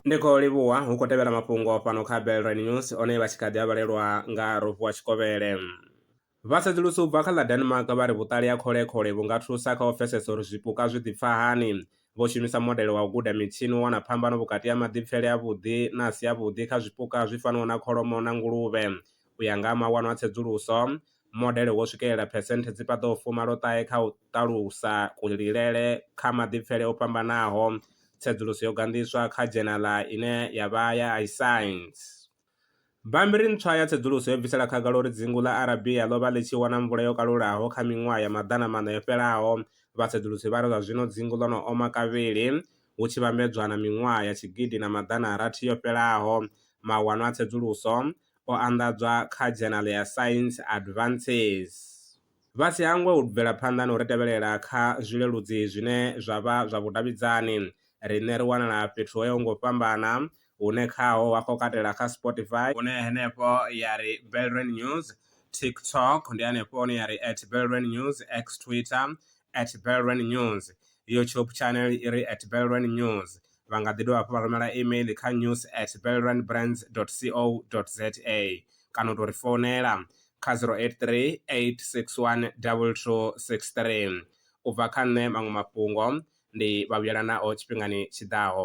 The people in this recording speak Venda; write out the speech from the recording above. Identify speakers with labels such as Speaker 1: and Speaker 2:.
Speaker 1: ndi khou livhuwa hu khou tevhela mafhungo fhano kha belre news one vha tshi kha ḓi a vhalelwa nga rofu wa tshikovhele vha sedzulusa u bva kha ḽa denmark vha ri vhuṱali ha kholekhole vhu nga thusa kha u pfesesa uri zwipuka zwi ḓipfa hani vho shumisa modele wa u guda mitshini u wana phambano vhukati ha maḓipfele a vhuḓi na a si a vhuḓi kha zwipuka zwi fanaho na kholomo na nguluvhe u ya nga ha mawanwa a tsedzuluso Modele wo swikelela phesenthe dzi paḓaho fumaloṱahe kha u ṱalusa kulilele kha maḓipfele o fhambanaho. Tsedzuluso yo ganḓiswa kha dzhenala ine ya vha ya iScience. Bammbiri ntswa ya tsedzuluso yo bvisela khagala uri dzingu ḽa Arabia ḽo vha ḽi tshi wana mvula yo kalulaho kha miṅwaha ya maḓana maṋa yo fhelaho. Vhatsedzulusi vha ri zwa zwino dzingu ḽo no oma kavhili hu tshi vhambedzwa na miṅwaha ya tshigidi na maḓana rathi yo fhelaho. Mawanwa a tsedzuluso o anḓadzwa kha dzhenala ya Science Advances. Vha si hangwe u bvela phanḓa na u ri tevhelela kha zwileludzi zwine zwa vha zwa vhudavhidzani. Riṋe ri wanala fhethu ho yaho nga u fhambana, hune khaho wa khou katela kha Spotify, hune henefho ya ri Belrand News, TikTok, ndi hanefho hune ya ri at Belrand News, X, Twitter, at belrun news youtube channel i re at belrun news vha nga ḓi dovha hafhu vha rumela email kha news at belrun brands co za kana u tou ri founela kha 083 861 2263 u bva kha nṋe maṅwe mafhungo ndi vha vhuyela nao tshifhingani tshi ḓaho.